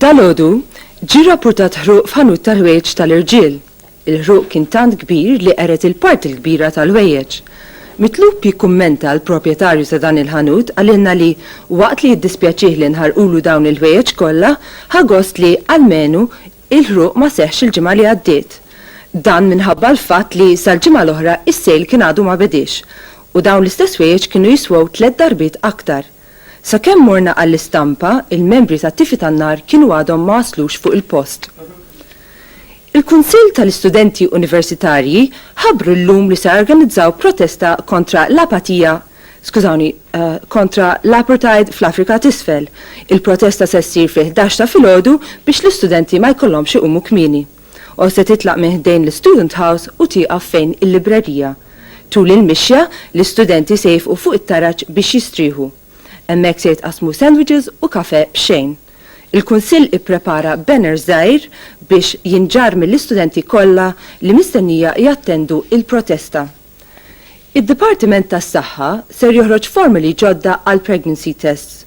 Dalgħodu ġie rrappurtat ħruq f'ħanut tal-ħwejjeġ tal-irġiel. Il-ħruq kien tant kbir li qered il-parti l-kbira tal-ħwejjeġ. Mitlub jikkummenta l-proprjetarju ta' dan il-ħanut qalilna li waqt li jiddispjaċih li nħarqulu dawn il-ħwejjeġ kollha, ħa gost li, almenu, Il-ħruq ma seħħx il-ġimgħa li għaddiet. Dan minħabba l-fatt li sal-ġimgħa l-oħra is-sejl kien għadu ma bediex u dawn l-istess ħwejjeġ kienu jiswew tliet darbiet aktar. Sakemm morna għall-istampa, il-membri tat-tifi tan-nar kienu għadhom ma waslux fuq il-post. Il-Kunsill tal-Istudenti Universitarji ħabbru llum li se jorganizzaw protesta kontra l-apatija skużawni, kontra l-apartheid fl-Afrika t'Isfel. Il-protesta se ssir fil-ħdax ta' filgħodu biex l-istudenti ma jkollhomx iqumu kmieni. U se titlaq minn ħdejn l-Student House u tieqaf fejn il-librerija. Tul il-mixja, l-istudenti se jifqu fuq it-taraġ biex jistrieħu. Hemmhekk se jitqassmu sandwiches u kafè b'xejn. Il-Kunsill ipprepara banner żgħir biex jinġarr mill-istudenti kollha li mistennija jattendu il-protesta. Id-Dipartiment tas-Saħħa ser joħroġ formoli ġodda għall-pregnancy tests.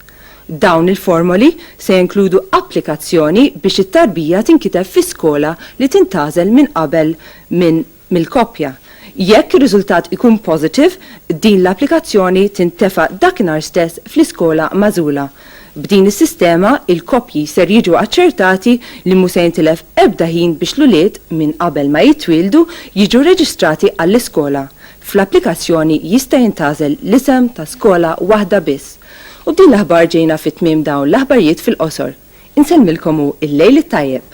Dawn il-formoli se jinkludu applikazzjoni biex it-tarbija tinkiteb fi skola li tintgħażel minn qabel minn mill-koppja. Jekk ir-riżultat ikun positive, din l-applikazzjoni tintefa' dakinhar stess fl-iskola magħżula B'din is-sistema, il-koppji ser jiġu aċċertati li mhu se jintilef ebda ħin biex l-ulied, minn qabel ma jitwieldu, jiġu reġistrati għall-iskola. Fl-applikazzjoni jista' jintgħażel l-isem ta' skola waħda biss. U b'din l-aħbar ġejna fi tmiem dawn l-aħbarjiet fil-qosor. Insellmilkom u l-lejl it-tajjeb!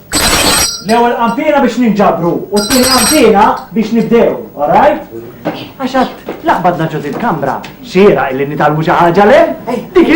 L-ewwel qanpiena biex ninġabru u t-tieni qanpiena biex nibdew, alright? Għax għad laqbad naġġu il-kamra, xira illi nitalmu xi ħaġa le? Dik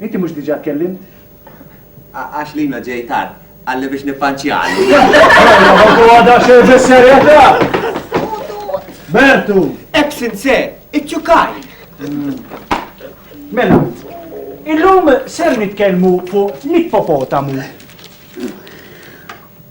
Inti mhux diġà tkellimt? Għax Lina ġej tard, qalli biex nippanċjalu. Huwa da xejn bis-serjetà! Bertu! Hekk sinse, iċċukaj! Mela, illum ser nitkellmu fuq l-ippopotamu.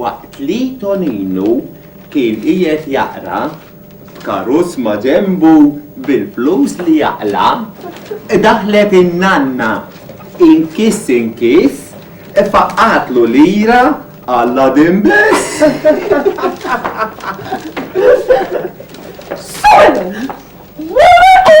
Waqt li Toninu kien qiegħed jaqra, b'karozz ma' ġenbu bil-flus li jaqla', daħlet in-nanna. Inkiss inkiss faqqgħatlu lira għall-għadin biss. Solemn! What a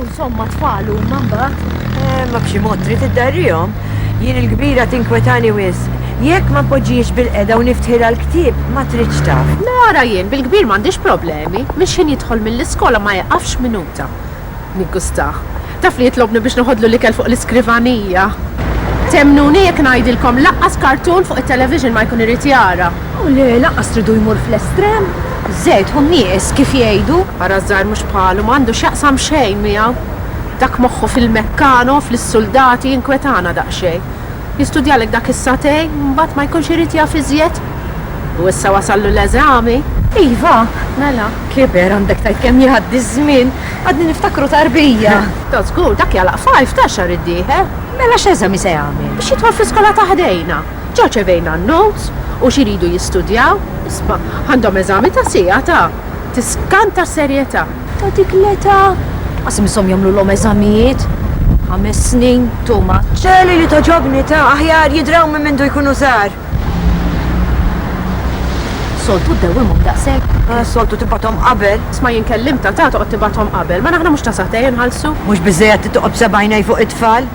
U somma tfal huma mbagħad. Eh, ma b'xi mod trid iddarrihom. Jien il-kbira tinkwetani wis. Jekk ma poġġiex bil-qeda u niftħilha l-ktieb, ma tridx taf. Mara jien bil-kbir m'għandix problemi, mhix ħin jidħol mill-iskola ma jieqafx minuta. Niggustah. Taf li jitlobni biex noħodlu l-ikel fuq l-iskrivanija. Temmnuni jekk ngħidilkom laqqas kartun fuq it-television ma jkun irid jara. U le lanqas tridu jmur fl-estrem. Żejt hu nieqes kif jgħidu. Ara ż-żgħir mhux bħalu, m'għandu x'jaqsam xejn miegħu. Dak moħħu fil-mekkano, fl-suldati jinkwetana daqsxejn. Jistudjalek dak is-satej, mbagħad ma jkunx irid jaf iżjed. U issa wasallu l-eżami. Iva, mela, kiber għandek tgħid kemm jgħaddi ż-żmien. Għadni niftakru tarbija. Ta' żgur, dak jagħlaq five ta' xahar id-dieħel. Mela x'eżami se jagħmel? Biex jidħol fl-iskola ta' ħdejna. Ġa rċevejna n-notes u x'iridu jistudjaw. Isma', għandhom eżami ta' siegħa ta'. Tiskanta s-serjetà. Ta' dik l-età! Ma smishom jagħmlulhom eżamijiet. Ħames snin, too much. Ċeli li togħġobni ta'. Aħjar jidraw minn mindu jkunu żgħar. Soltu ddewwimhom daqshekk? Ah, soltu tibgħathom qabel. Isma' jien kellimt ta' ta' toqgħod tibgħathom qabel. Mela aħna mhux tasah ta' jinħallsu? Mhux biżżejjed li toqgħod b'seba' għinejn fuq it-tfal?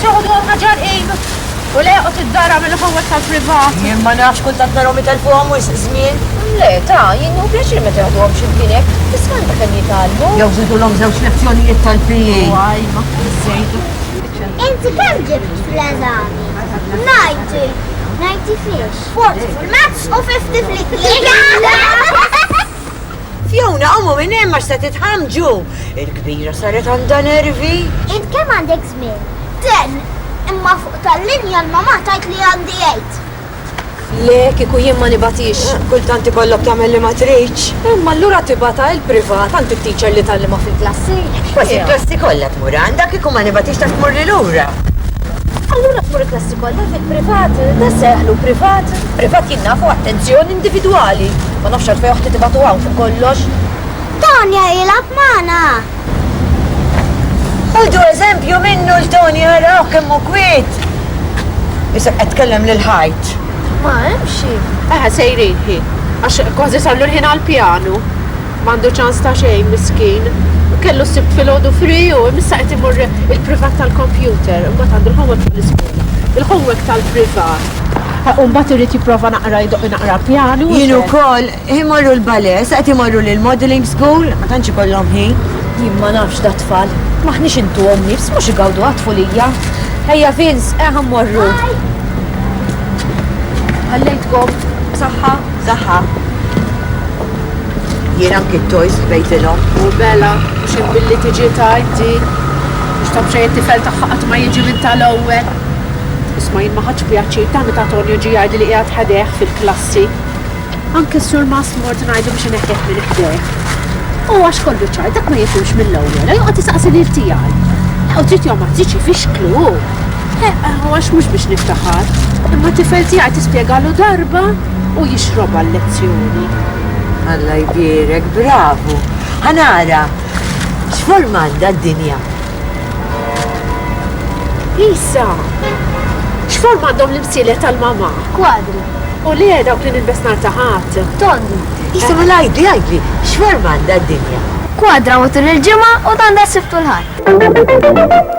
Soħdu għafna ġarqin u leqot id-dara minn ħawwet tal-privat. Jien ma nafx kull tant narhom itelfuhom wis żmien. Le, ta, jien u pjaċir meta jaħduhom xi mkien hekk, tisma' int kemm jitgħallmu. Jew żidulhom żewġ lezzjonijiet tal-PE. Waj, ma żejdu. Inti kemm ġibt fl-eżami? Ninety. Ninety fiex? Forty fil-maths u fifty fl-Ingliż. Fjona, qumu minn hemm għax se titħammġu! Il-kbira saret għandha nervi. Int kemm għandek żmien? Ten, imma fuq tal-linja l-mamà tajt li għandi għid. Le, kieku jien ma nibatix, kultant ikollok tagħmel li ma tridx. Imma allura tibata il-privat għand it-teacher li tallima fil-klassi. Kważi il-klassi kollha tmur għandha kieku ma nibatix ta' tmur lil lura. Allura tmur il-klassi kollha fil-privat, tasseħlu privat. Privat jinnafu attenzjoni individwali. Ma nafx għalfejn oħti tibatu hawn fuq kollox. Tanja jilab magħna. Ħudu eżempju minnu l-Toni għaraw kemm hu kwiet. Isek qed tkellem lil ħajt. Ma hemm xi. Eħe sejrin ħi. Għax kważi sallu l-ħin għall-pjanu. M'għandu ċans ta' xejn miskin. Kellu sibt fil-ħodu fri u missa qed imur il-privat tal-kompjuter. Imbagħad għandu l-homework tal-iskola. Il-homework tal-privat. U mbagħad irid jipprova naqra jdoqq naqra pjanu. Jien ukoll, imorru l-ballet, sa qed imorru lill-modelling school, ma tantx ikollhom ħin. Jien ma nafx dat-tfal, m'aħniex intuhom nifs, mhux igawduha t-tfulija. Ejja Vince, eh ħa mmorru. Ħallejtkom b'saħħa? B'saħħa. Jien anki t-toys ħbejtilhom. U Bella, mhux hemm billi tiġi tgħid di. Mhux taf xejn it-tifel tagħha qatt ma jiġi minn tal-ewwel. Isma' jien ma ħadtx pjaċir tant meta Tonio ġie jgħidli li qiegħed ħdejh fil-klassi. Anke s-Sur Mast mort ngħidlu biex ineħħih minn ħdejh. U għax kollu ċar, dak ma jifhimx mill-ewwel, la joqgħod isaqsi lil tiegħi. La u trid jew ma tridx ifixklu hu. Eqqa, u għax mhux biex niftaħar. Imma t-tifel tiegħi tispjegalu darba u jixrobha l-lezzjoni. Alla jbierek, bravu! Ħa nara, x'forma għandha d-dinja? Lisa, x'forma għandhom l-imsilet tal-mama? Kwadri. U li dawk li nilbes nar taħat? Tondi. Lisa, ma lajdi, għajdi, x'forma għandha d-dinja? Kwadra u tul il-ġimgħa u tanda siftu l-ħadd.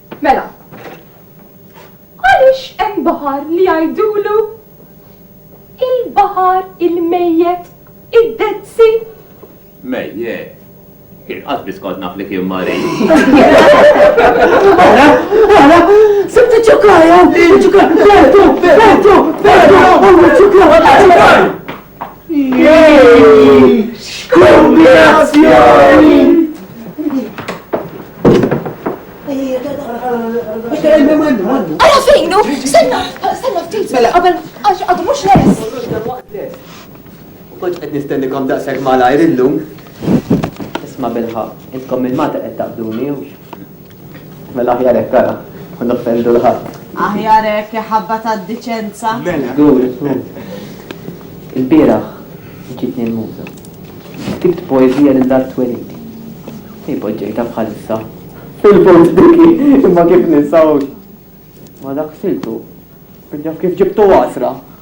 Mela, għaliex hemm baħar li jgħidulu il-baħar il-mejjet, id-Dead Sea? Mejjet? Jien qatt biss kont naf li kien marid. Ara, ara, sibt iċ-ċukkaja, iċ-ċukkaja, bertu, bertu, bertu, u iċ-ċukkaja, iċ-ċukkaja. nistennikom daqshekk malajr illum. Isma' bilħaq, intkom il-mata qed taqduni Mela aħjar hekk ara, ma noffendu 'l ħadd. Aħjar hekk, iħabba tad-diċenza. Mela. Żgur, żgur. Il-bieraħ ġietni l-muża. Ktibt poeżija lil Art Twelidi. Hi poġġejtha bħalissa. Fil-fond diki, imma kif ninsahux? Ma dak siltu. Ġaf kif ġibtu għasra.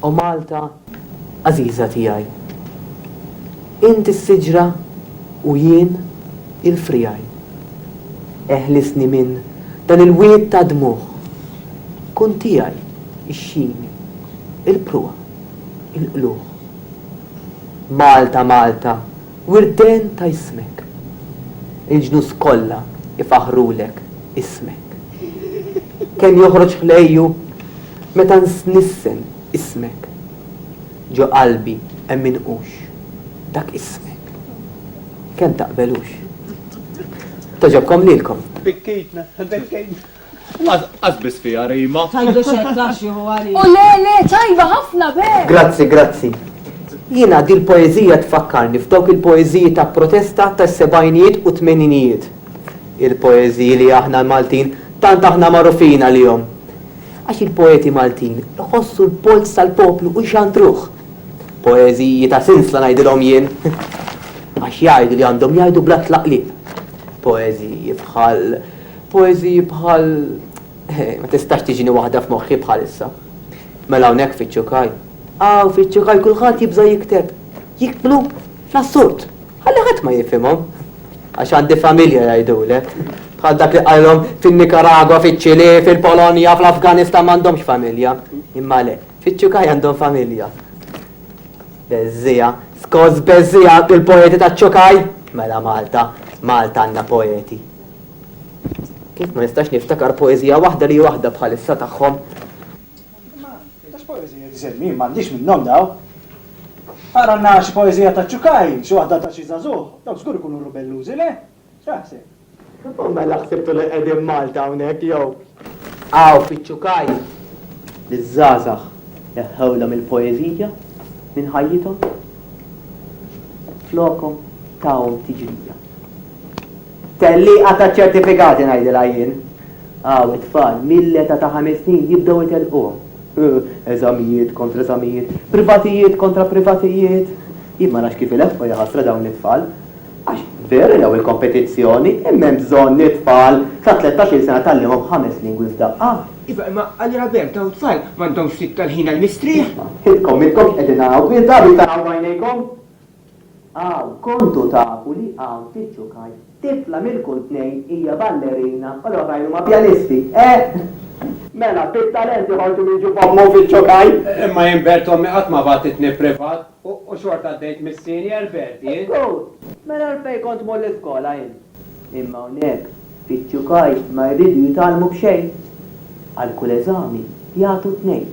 O Malta għażiża tiegħi. Int is-siġra u jien il-friegħi. Eħlisni minn dan il-wied ta' dmugħ. Kun tiegħi x-xini, il-pruha, il-qlugħ. Malta, Malta, wirden ta' jismek. Il-ġnus kollha ifaħħrulek ismek. Kemm joħroġ ħlejju! Meta nsnissen ismek. Ġo qalbi hemm inqux. Dak ismek. Kemm taqbelux. Togħġobkom lilkom. Bekkejtna, bekkejtna. Qas biss fiha rima. Tgħidux hekk taf xi hu għalija. O le, le, tajba ħafna b'hekk! Grazzi, grazzi. Jiena dil-poeżija tfakkarni f'dawk il-poeżiji ta' protesta tas-sebgħinijiet u t-tmeninijiet. Il-poeżiji li aħna l-Maltin tant aħna magħrufin għalihom. Għax il-poeti Maltin iħossu l-polz tal-poplu u jxandruh. Poeżiji ta' sinsla ngħidilhom jien. Għax jgħidu li għandhom jgħidu bla tlaqliq. Poeżiji bħal, poeżiji bħal, eh, ma tistax tiġini waħda f'moħħi bħalissa. Mela hawnhekk fiċ-Ċukaj, hawn fiċ-Ċukaj kulħadd jibża' jikteb. Jiktbu fl-assurd. Ħalli ħadd ma jifhimhom, għax għandi familja jgħidulek, bħal dak li qalilhom fin-Nikaragwa, fiċ-Ċilì, fil-Polonja, fl-Afganistan m'għandhomx familja. Imma le, fiċ-Ċukaj għandhom familja. Beżżija, skoss beżżija bil-poeti taċ-Ċukaj? Mela Malta, Malta għandha poeti. Kif ma nistax niftakar poeżija waħda li waħda bħalissa tagħhom? Imma għax poeżija disinn jien m'għandix minnhom dawn. Aqralna xi poeżija ta' Cukaj, xi waħda ta' xi żagħżugħ, dawk żgur ikunu rubellużi, le? X'taħseb? U mela ħsibtu li qegħdin Malta hawnhekk jew? Hawn fiċ-Cukaj liż-żgħażagħ neħħewlhom il-poeżija minn ħajjithom. Flokhom tahom tiġrija. Tellieqa taċ-ċertifikati ngħidilha jien. Hawn it-tfal mill-età ta' ħames snin jibdew itellquhom. Eżamijiet kontra eżamijiet, privatijiet kontra privatijiet. Jien ma nafx kif ileħħqu jaħasra dawn it-tfal. Għax veru jew il-kompetizzjoni, imma hemm bżonn it-tfal ta' tlettax-il sena tgħallimhom ħames lingwi f'daqqa. Iva, imma Qalli Rabert, dawn it-tfal m'għandhomx l-iktar ħin għall-mistrieħ. Isma', intkom m'intkomx qegħdin hawn, insabu jtargħu għajnejkom. A, Kontu tafu li hawn ftit ġukajt, tifla minn kull tnejn hija ballerina u l-oħrajn huma pjanisti, eh! Mela, bit-talent joħorġu minn ġuf ommu ftit ġukajt! Imma jien Bert ommi qatt ma bagħtitni privat u xorta għaddejt mis-senior, Bertie! Good! Mela għalfejn kont tmur l-iskola int? Imma hawnhekk iċ-ċukaj ma jridu jitgħallmu b'xejn. Għal kull eżami jagħtu tnejn.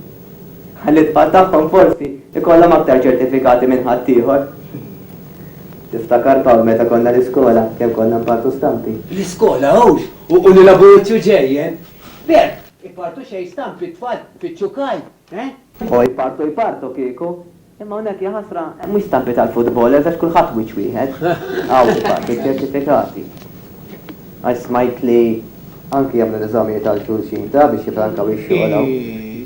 Għall-itfal tagħhom forsi jkollhom aktar ċertifikati minn ħaddieħor. Tiftakar Pawl meta konna l-iskola kemm konna npartu stampi? L-iskola hux u l-laburuzzju ġejjen. B'hekk ipartu xejn stampi t-tfal fiċ-ċukaj. Eh? O jpartu jpartu kieku. Imma hawnhekk ja ħasra mhux stampi tal-footballers għax kulħadd wiċċ wieħed. Hawn ipartu ċ-ċertifikati. Għax smajt li anki jagħmlu l-eżamijiet għal xulxin ta' biex jifrankaw ix-xogħol hawn.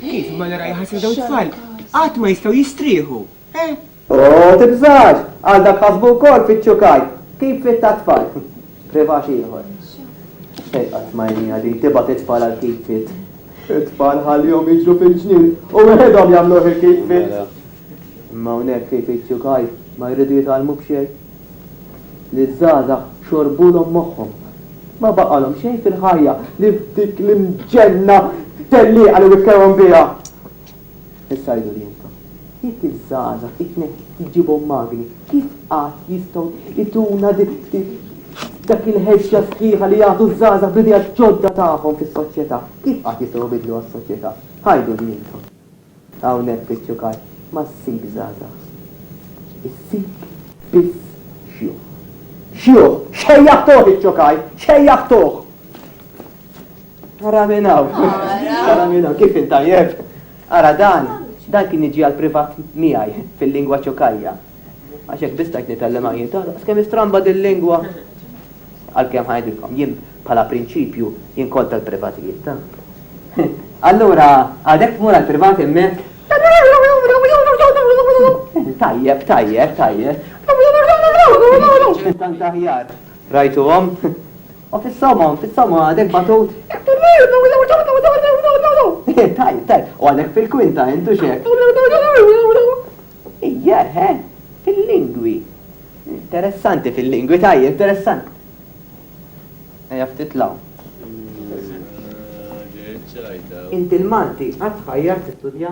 Kif, Malera ja ħasra dawn it-tfal qatt ma jistgħu jistrieħu. Eeh! U tibżax! Għal dak ħasbu wkoll fiċ-ċukaj! Kif fit tat-tfal! Privaċ ieħor. Xejn qatt ma jniha din tibgħat it-tfal għal kif fit. It-tfal ħallihom jiġru fil-ġnien u weħidhom jagħmluh il-kif fit. Imma hawnhekk kif fiċ-ċukaj ma jridu jitgħallmu b'xejn. Liż-żgħażagħ xorbulhom moħħhom. Ma baqalhom xejn fil-ħajja li f'dik l-imġenna tellieqa li wikkewhom biha. Issa għiduli intom, jekk iż-żgħażagħ it-tnejn li ġġibhom magni, kif qatt jistgħu jtuna dak il-ħeġġa sħiħa li jagħtu ż-żgħażagħ bl-ideat ġodda tagħhom fis-soċjetà? Kif qatt jistgħu jbiddluha s-soċjetà? Għiduli intom. Hawnhekk fiċ-ċukar ma ssib żgħażagħ. Issib biss xjuħ. Xjuħ! Xejjaħtuh iċ-ċukar! Xejjaħtuh! Ara minn hawn. Ara minn hawn. Kif intajjeb? Ara dan, dan kien jiġi għal privat miegħi fil-lingwa ċokajja. Għax hekk biss tajt nitgħallem għajjin tagħna. Skemm istramba dil-lingwa. Għalkemm ħajdilkom, jien bħala prinċipju jien kontra l-privatijiet. Allura, għadek tmur għal privat hemmhekk? Tajjeb, tajjeb, tajjeb. Tant aħjar. Rajtuhom? O fis-soma, fis-soma għadek batut? Tajb, tajb, u għadek fil-kwinta, intu xek? Ija, he, fil-lingwi. Interessanti fil-lingwi, tajb, interessanti. Eja ftit law. Inti l-Malti għad tħajjar tistudja?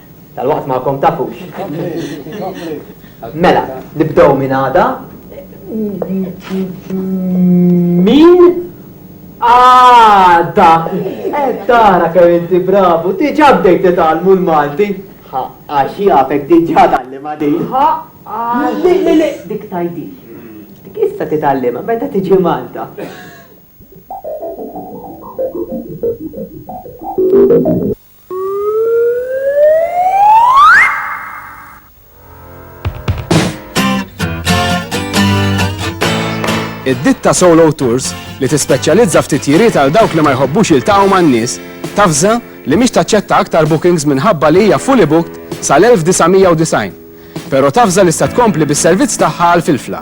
Tal-waqt magħkom tafux. Mela, nibdew minn għada. Min? Għada! Għaddara eh, kemm inti bravu, diġa bdejt titgħallmu l-Malti. Ha, għax jafek diġa tgħallima din. Ha, li li li dik tajdi. Dik issa titgħallima meta tiġi Malta. Id-ditta Solo Tours li tispeċjalizza f'titjiriet għal dawk li ma jħobbux jiltaqgħu man-nies tafża li mhix taċċetta aktar bookings minħabba li hija fully booked sal-1990. Però tafża li se tkompli bis-servizz tagħha għal filfla.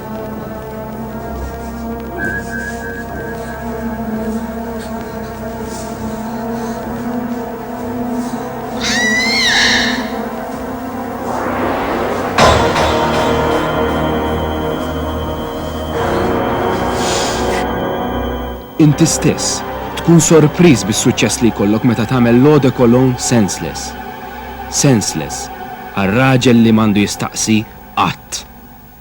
Inti stess tkun sorpriż bis-suċċess li jkollok meta tagħmel lode kolon senseless. Senseless għal raġel li m'għandu jistaqsi qatt.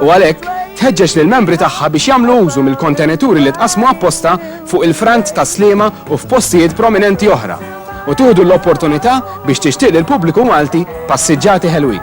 u għalhekk tħeġġeġ lill-membri tagħha biex jagħmlu użu mill-kontenituri li tqassmu apposta fuq il-frant tas-Sliema u f'postijiet prominenti oħra u tieħdu l-opportunità biex tixtieq lill-pubbliku Malti passiġġati ħelwin.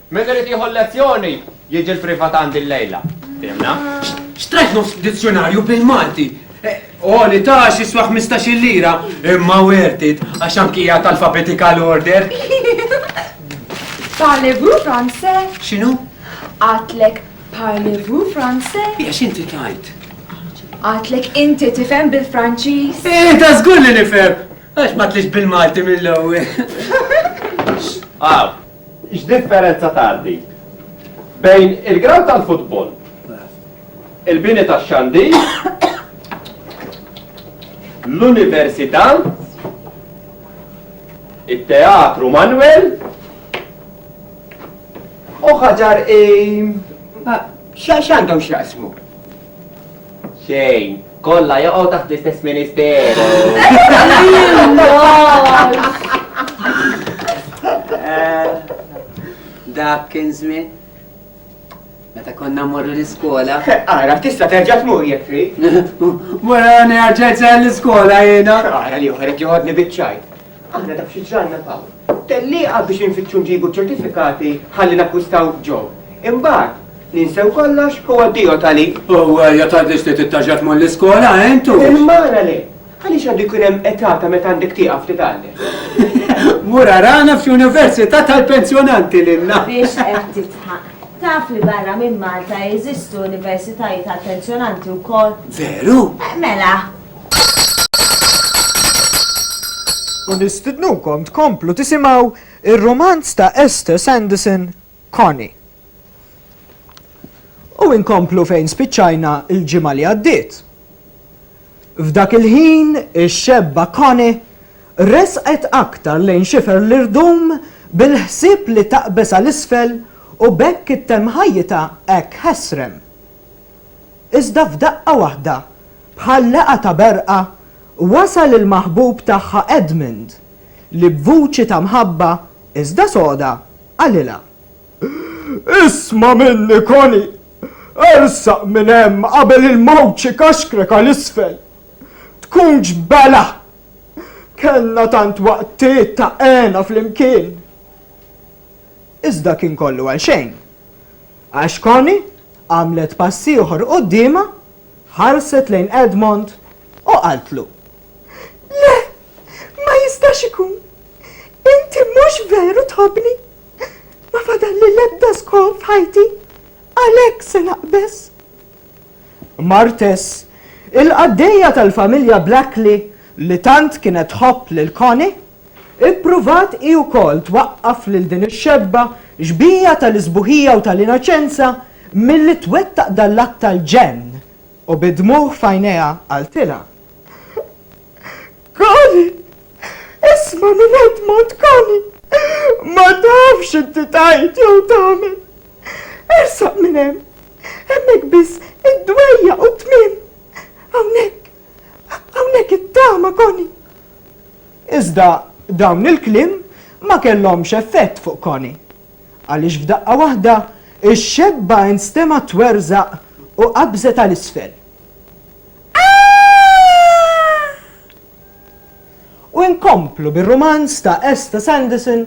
Min irid jieħu l-lezzjoni jiġi l-privatant dil-lejla. Fhimna? Xtrajt nofs dizzjunarju bil-Malti? Oli ta' xiswa 15 lira, imma worth it, għax anki hija tal-fabetikal order. Parlez-vous français? X'inhu? Għatlek parlez-vous français? Hija x'inti tajt? Għatlek inti tifhem bil-Franċiż? Eh, ta' żgur li nifhem. Għax ma tlix bil-Malti mill-ewwel. Aw, X'differenza tgħar dik bejn il-grawnd tal-futbol, il-bini tax-xandir, l-Università, it-Teatru Manwel u Ħaġar I? X'għandhom x'jaqsmu? Xejn, kollha jaqgħu taħt l-istess ministeru. Dak kien żmien. Meta konna morru l-iskola. Ara, tista' terġa' tmur jekk trid. Wara nerġa' l-iskola jiena. Ara li oħrek joħodni biċ-ċajt. Aħna taf xi ġralna Pawl? Tellieqa biex infittxu nġibu ċ-ċertifikati ħalli nakkwistaw Joe. Imbagħad, ninsew kollox u addio Tali. U ja tgħidlix li tittaġġa tmur l-iskola, eh, intu? Imma ara le! Għaliex għandu jkun hemm età ta' meta għandek tieqaf titgħallem? Mur arana f'xi università tal-pensjonanti lilna. Biex qed tidħaq. Taf li barra minn Malta jeżistu universitajiet għall-pensjonanti wkoll? Veru? Mela, U nistidnukom tkomplu tisimgħu ir-rumanz ta' Esther Sanderson, Connie. U inkomplu fejn spiċċajna l-ġimgħa li għaddiet. F'dak il-ħin ix-xebba Connie resqet aktar lejn xifer l-irdum bil-ħsieb li taqbeż għal isfel u b'hekk ittemm ħajjitha hekk ħesrem. Iżda f'daqqa waħda, bħal laqgħa ta' berqa, wasal il-maħbub tagħha Edmund, li b'vuċi ta' mħabba, iżda soda, qalilha, Isma' minni, Connie! Ersaq minn hemm qabel il-mewt xi kaxkrek għal isfel! Tkunx belha! Kellna tant waqtiet ta' hena flimkien! Iżda kien kollu għalxejn. Ash Connie għamlet pass ieħor quddiemha, ħarset lejn Edmond u qaltlu. Le! Ma jistax ikun! Inti mhux veru tħobbni! Ma fadalli l-ebda skor f'ħajti! Għalhekk se naqbeż! Martes, il-qaddejja tal-familja Blackley li tant kienet tħobb lil Connie, Ippruvat hi wkoll twaqqaf lil din ix-xebba xbieha tal-isbuħija u tal-inaċenza milli twettaq dan l-att tal-ġenn u bid-dmugħ f'għajnejha qaltilha, Connie, isma' minn Edmond, Connie, ma tafx x'inti tgħid jew tagħmel. Ersaq minn hemm, hemmhekk biss id-dwejjaq u t-tmiem. Hawnhekk, hawnhekk it-tama, Connie. Iżda dawn il-kliem ma kellhomx effett fuq Connie. Għaliex f'daqqa waħda, ix-xebba instemgħet twerżaq u qabżet għal isfel. Aah! U nkomplu bir-rumanz ta' Esther Sanderson,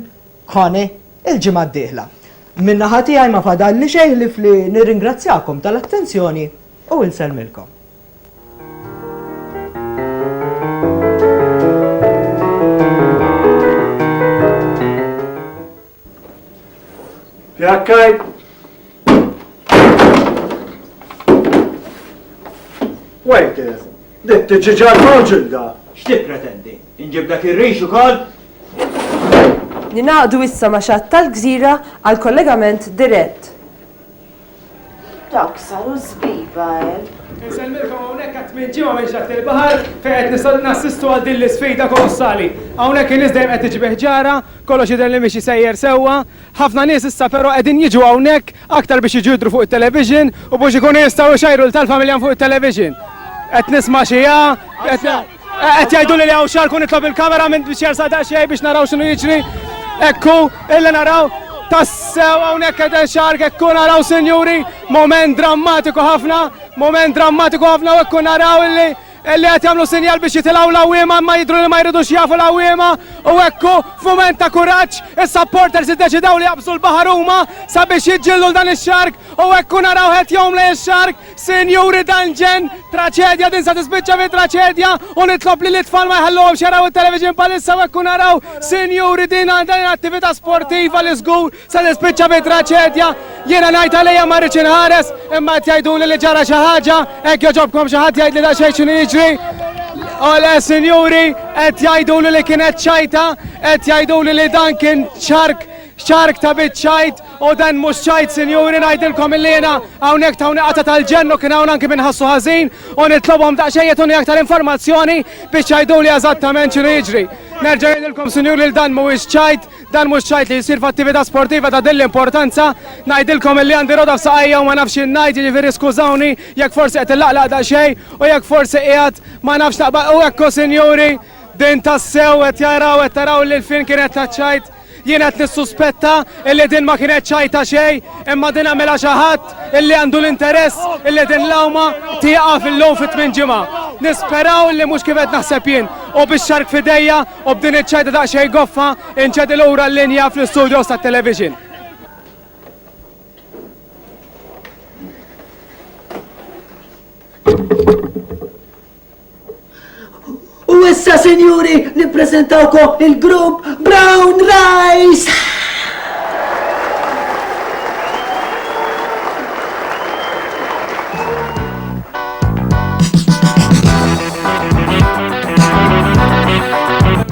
Connie, il-ġimgħa d-dieħla. Min-naħa tiegħi ma fadalli xejn ħlief li nirringrazzjakom tal-attenzjoni u insellmilkom. Jakkaj! Wait, dit tiġiġa l-ħoġil da! X'ti pretendi? Inġib dak ir-rix ukoll? Ninaqdu issa ma' xatt tal-gżira għal kollegament dirett. Dawk saru żbiba, eh! Insellmilkom hawnhekk għat-tmien ġimgħa minn Xatt il-Baħar fejn qed nistgħu nassistu għal din l-isfida kolossali. Hawnhekk in-nies dejjem qed tiġi bi ħġarha, kollox jidher li miexi sejjer sewwa. Ħafna nies issa però qegħdin jiġu hawnhekk aktar biex jiġu jidhru fuq it-television u biex ikunu jistgħu jxajru lil tal-familja minn fuq it-television. Qed nisma' xi 'A', qed. Qed jgħidu li hawn xarku nitlob il-kamera minn biex jersa daqsxejn biex naraw x'inhu jiġri. Ekku, illi naraw tassew hawnhekk qed xark ekku naraw sinjuri, moment drammatiku ħafna, moment drammatiku ħafna u ekku naraw illi illi qed jagħmlu sinjal biex jitilgħu l-awwiema ma jidru li ma jridux jafu l-awwiema u ekku f'mument ta' kuraġġ is-supporters iddeċidaw li jaqbżu l-baħar huma sabiex jiġġieldu dan ix-xark u ekku naraw ħed jomla ix-xark Sinjuri dan ġen traċedja din sa tispiċċa fi traċedja u nitlob li l-itfal ma jħalluhomx jaraw it-television palissa u hekk naraw sinjuri din għandha attività sportiva li żgur sa tispiċċa fi traċedja. Jiena ngħid għalija ma rridx inħares imma qed jgħiduli li ġara xi ħaġa hekk joġobkom xi ħadd jgħidli daqsxejn x'inhu jiġri. Ole sinjuri qed jgħiduli li kienet ċajta, qed jgħiduli li dan kien ċark ċark ta' biċċajt U dan mhux ċajt sinjuri ngħidilkom illi jiena hawnhekk tawni qata tal-ġenn u kien hawn anki min ħassu ħażin u nitlobhom daqsxejn jagħtuni aktar informazzjoni biex jgħiduli eżattament x'inhu jiġri. Nerġa' ngħidilkom sinjuri li dan mhuwiex ċajt, dan mhux ċajt li jsir f'attività sportiva ta' din l-importanza. Ngħidilkom illi għandi roda f'saqajja u ma nafx x'in ngħid, jiġifieri skużawni jekk forsi qed illaqlaq daqsxejn u jekk forsi qiegħed ma nafx naqbad u hekk hu sinjuri din tassew qed jaraw qed taraw lil fin kien qed taċ-ċajt. Jien qed nissuspetta illi din ma kienet xajta xejn, imma din għamilha xi ħadd illi għandu l-interess illi din l-għawma tieqaf illum fi tmien ġimgħa. Nisperaw illi mhux kif qed naħseb jien. U bix-xark f'idejja u b'din iċ-ċajta daqsxejn goffa, inċedi lura l-linja fl-istudios tat-television. U issa, sinjuri, nippreżentawkom il-grupp Brown Rice!